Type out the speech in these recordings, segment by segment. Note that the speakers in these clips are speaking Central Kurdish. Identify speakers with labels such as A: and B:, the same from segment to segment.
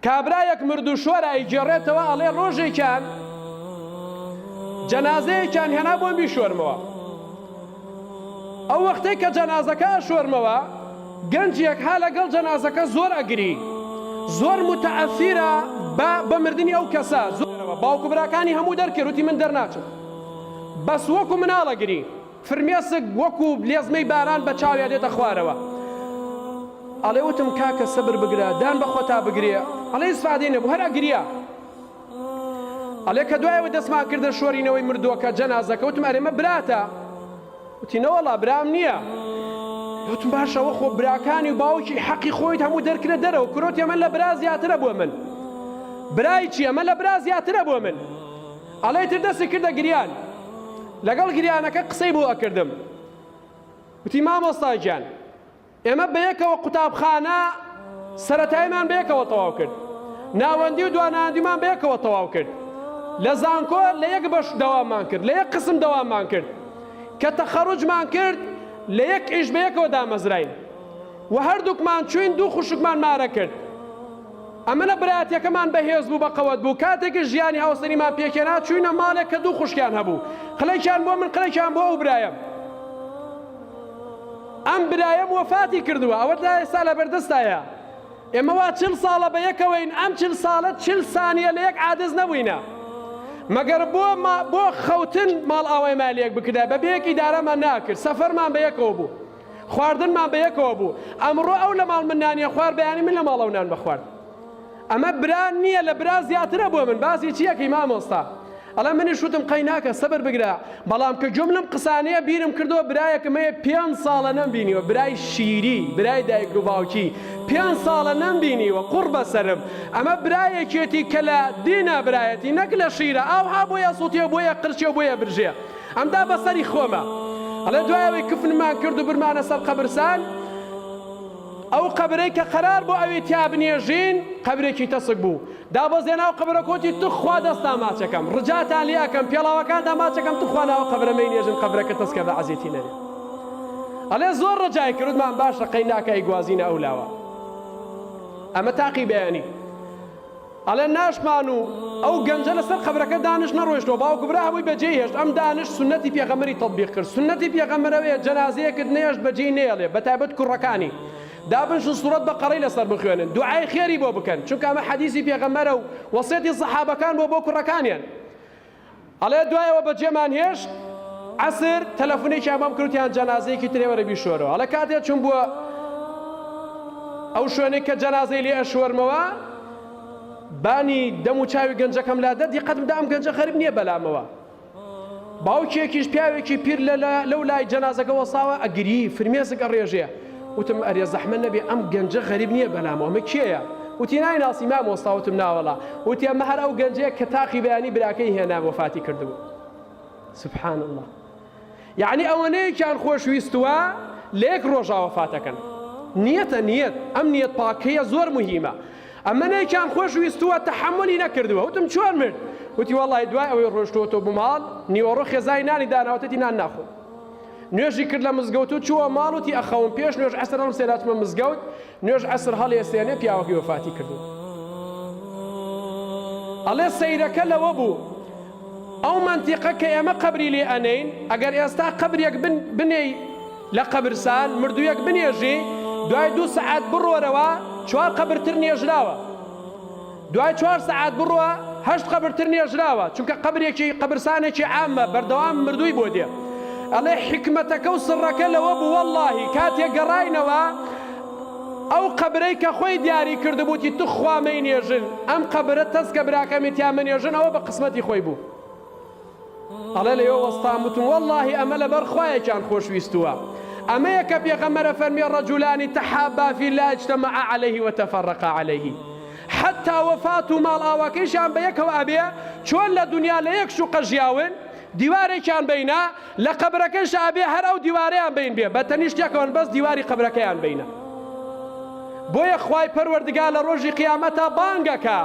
A: کابرایەک مردوو شۆر ئەیگێڕێتەوە ئەڵێ ڕۆژێکیان جەنازەیەکیان هێنا بۆ میشۆرمەوە ئەو وەختێک کە جەنازەکە ئەشۆرمەوە گەنجێک ها لەگەڵ جەنازەکە زۆر ئەگری زۆر متعەسیرە بە بە مردنی ئەو کەسە زۆرەوە باوکو براکانی هەموو دەرکرد وتی من دەرناچم بەس وەکو مناڵەگری فرمێسک وەکو لێزمەی باران بە چاویا دێتە خوارەوە ئەڵێ وتم کاکە سەبر بگرە دان بە خۆتا بگرێ ئەڵێ ئیسفادەی نەبوو هەر ئەگریا ئەڵێ کە دوایەوە دەستمان کردە شۆرینەوەی مردووەکە جەنازەکە وتم ئەرێمە براتە وتی نەوەڵا برام نییە وتم باشەوە خۆ براکانی و باوکی حەقی خۆیت هەموو دەرکرە دەرەوە کرۆتی ئەمە لە برا زیاترە بۆ من برای چی ئەمە لە برا زیاترە بۆ من ئەڵێی تر دەستی کردە گریان لەگەڵ گریانەکە قسەی بۆ ئەکردم وتی مامۆستا گیان ئێمە بەیەکەوە قوتابخانە سەتایمان بەیەکەوە تەواو کرد ناوەندی و دواناندیمان بەیەکەوە تەواو کرد لە زانکۆ لە یەک بەش داوامان کرد لە یەک قسم داوامان کرد کە تەخەڕجمان کرد لە یەک ئیش بەیەکەوە دامەزراین و هەردووکمان چوین دوو خوشکمان مارە کرد ئەمنە برایەتیەکەمان بەهێز بوو بەقەوەت بوو کاتێکیش ژیانی هاوسەریمان پێکهێنا چوینە ماڵێک کە دوو خوشکیان هەبوو قلەکیان بۆ من قلەکیان بۆ ئەو برایەم ئەم برایەم وەفاتی کردووە ئەوە تا ئێستا لەبەردەستایە ئێمە وا چل ساڵە بە یەکەوەین ئەم چل ساڵە چل سانیە لە یەک عادز نەبووینە مەگەر بۆ بۆ خەوتن ماڵ ئاوای مالیەک بکردای بە بەیەک ئیدارەمان ناکرد سەفەرمان بە یەکەوە بوو خواردنمان بە یەکەوە بوو ئەمڕۆ ئەو لە ماڵ من نانی خوارد بەیانی من لە ماڵ ئەو نانمە خوارد ئەمە برا نییە لە برا زیاترە بۆ من باسی چیەکەی مامۆستا ئەڵە منیش وتم قەیناکە سەبر بگرە بەڵام کە گوێم لەم قسانەیە بیرم کردەوە برایەکم هەیە پێنج ساڵە نەمبینیوە برای شیری برای دایک و باوکی پێنج ساڵە نەمبینیوە قوڕ بەسرم ئەمە برایەکێتی کە لە دینا برایەتی نەک لە شیرە ئاوها بۆیە سووتێ بۆیە قرچێ بۆیە برژێ ئەمدا بەسەری خۆمە ئەڵێ دوای ئەوەی کفنمان کرد و برمانە سەر قەبرسان ئەو قەبرەی کە قەرار بۆ ئەوی تیا بنێژین قەبرێکی تەسک بوو دابەزێ ناو قەبرە کۆتی توخوا دەستا ماچەکەم ڕجاتان لێ ئەەکەم پێڵاوەکاندا ماچەکەم توخوا ناوە قەبرەمەی نێژن قەبرەکە تەسکە بە عزیێتی نەێ ئەلێ زۆر ڕجای کردمان باشە قەی ناکای گوازینە ئەو لاوە ئەمە تاقی بەیانی ئەڵێن ناشمان و ئەو گەنجە لەسەر قەبرەکە دانشت نەڕۆیشتەوە باوک و برا هەمووی بەجێی هێشت ئەم دانشت سوننەتی پێغەمبەری تەتبیق کرد سوننەتی پێغەمبەر ئەوەیە جەنازەیەکت نەهێشت بەجێی نەیەڵێ بەتایبەت کوڕەکانی دابنشن سوڕەت بەقەڕەی لەسەر بخوێنن دوعای خێری بۆ بکەن چونکە ئەمە حەدیسی پێغەمبەرە و وەسێتی سەحابەکان بۆ بۆ کوڕەکانیان ئەڵێ دوایەوە بەجێمان هێشت عەسر تەلەفونێکیان بۆم کرد وتیان جەنازەیەکی ترێ وەرە بیشۆرەوە ئەڵێ کاتێ چوم بووە ئەو شوێنێک کە جەنازەی لێ ئەشۆرمەوە بانی دەم و چاوی گەنجەکەم لا دەدی قەتم دام گەنجە غەرب نییە بەلامەوە باوکێکیش پیاوێکی پیر لە لەو لای جەنازەکە وەساوە ئەگری فرمێسک ئەڕێژێ وتم ئەرێ زەحمەت نەبێ ئەم گەنجە غەریب نیە بەلام ئەمە کێیە وتی نایناسی مامۆستا وتم ناوەڵا وتی ئەمە هەر ئەو گەنجەیە کە تاقی بەیانی براکەی هێنا وەفاتی کردبوو سبحان اللە یعنی ئەوەنەیەکیان خۆش ویستوە لە یەک ڕۆژا وەفاتەکەن نیەتە نیەت ئەم نیەت پاکەیە زۆر مهمە ئەمە نەیکیان خۆش ویستووە تەحملی نەکردووە وتم چۆن مرد وتی وڵی دوای ئەوەی ڕۆشتۆتۆ بماڵ نیوەڕۆ خێزای نانی داناوتەتی نان ناخۆ نوێژی کرد لە مزگەوت و چووە ماڵ وتی ئەخەوم پێش نوێژ عەسر هەڵم سێناتمە مزگەوت نوێژ عەسر هەڵێ سێنێ پیاوەکەی وەفاتی کردو ئەڵێ سەیرەکە لەوە بوو ئەو منتیقە کە ئێمە قبری لێ ئەنین ئەگەر ئێستا قبرێک بنێی لە قبرسان مردوویەک بنێژی دوای دوو سعات بڕۆرەوە چوار قبرتر نێژراوە دوای چوار سەعات بڕوا هەشت قەبر تر نێژراوە چونکە قەبرێکی قەبرسانێکی عامە بەردەوام مردووی بۆ دێ ئەڵێ حیکمەتەکە و سڕەکە لەوە بوو وەڵاهی کاتێ گەڕاینەوە ئەو قەبرەی کە خۆی دیاری کردبووتی توخوا مەینێژن ئەم قەبرە تەسکە براکەمی تیا مەنێژن ئەوە بە قسمەتی خۆی بوو ئەڵێ لەوێ وەستام وتم وەڵڵاهی ئەمە لەبەر خوایەکیان خۆشویستووە ئەمەیە کە پێغەمبەرە فەرمی ڕەجولانی تەحابا فی اللە اجتمعا علیه و تفرقا علیه حتا وەفات و ماڵ ئاواکەیشیان بە یەکەوە ئەبێ چۆن لە دنیا لە یەک شوقە ژیاون دیوارێکیان بینە لە قەبرەکەیش ئەبێ هەر ئەو دیوارەیان بین بێ بە تەنیشت یەکەوەن بەس دیواری قەبرەکەیان بینە بۆیە خوای پەروەردگار لە ڕۆژی قیامەتا بانگ ئەکا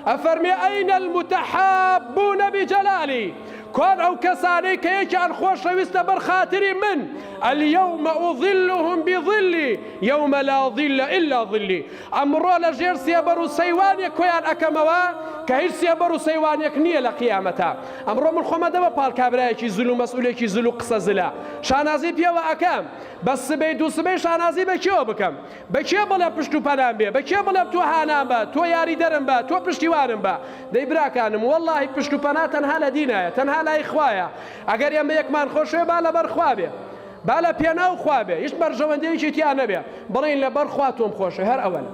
A: ئەفەرمێ ئەین المتحابون بجلالی کوان ئەو کەسانەی کە یەکیان خۆشەویست لەبەر خاتری من الیوم اظلهم بظلی یوم لا ظل الا ظلی ئەمڕۆ لە ژێر سێبەر و سەیوانێک کۆیان ئەکەمەوە کە هیچ سێبەر و سەیوانێک نییە لە قیامەتا ئەمڕۆ من خۆمە دەمە پاڵ کابرایەکی زل و مەسئولێکی زل و قسە زلە شانازی پێوە ئەکەم بەس سبەی دوو سبەی شانازی بە کێوە بکەم بە کێ بڵێم پشت و پەنام بێ بە کێ بڵێم تۆ هانام بە تۆ یاریدەرم بە تۆ پشتیوانم بە دەی براکانم وەڵاهی پشت و پەنا تەنها لە دینایە تەنها لای خوایە ئەگەر ئێمە یەکمان خۆشەوێ با لەبەر خوا بێ با لە پێناو خوا بێ هیچ بەرژەوەندیەکی تیا نەبێ بڵێین لەبەر خوا تۆم خۆشەوێ هەر ئەوەنە.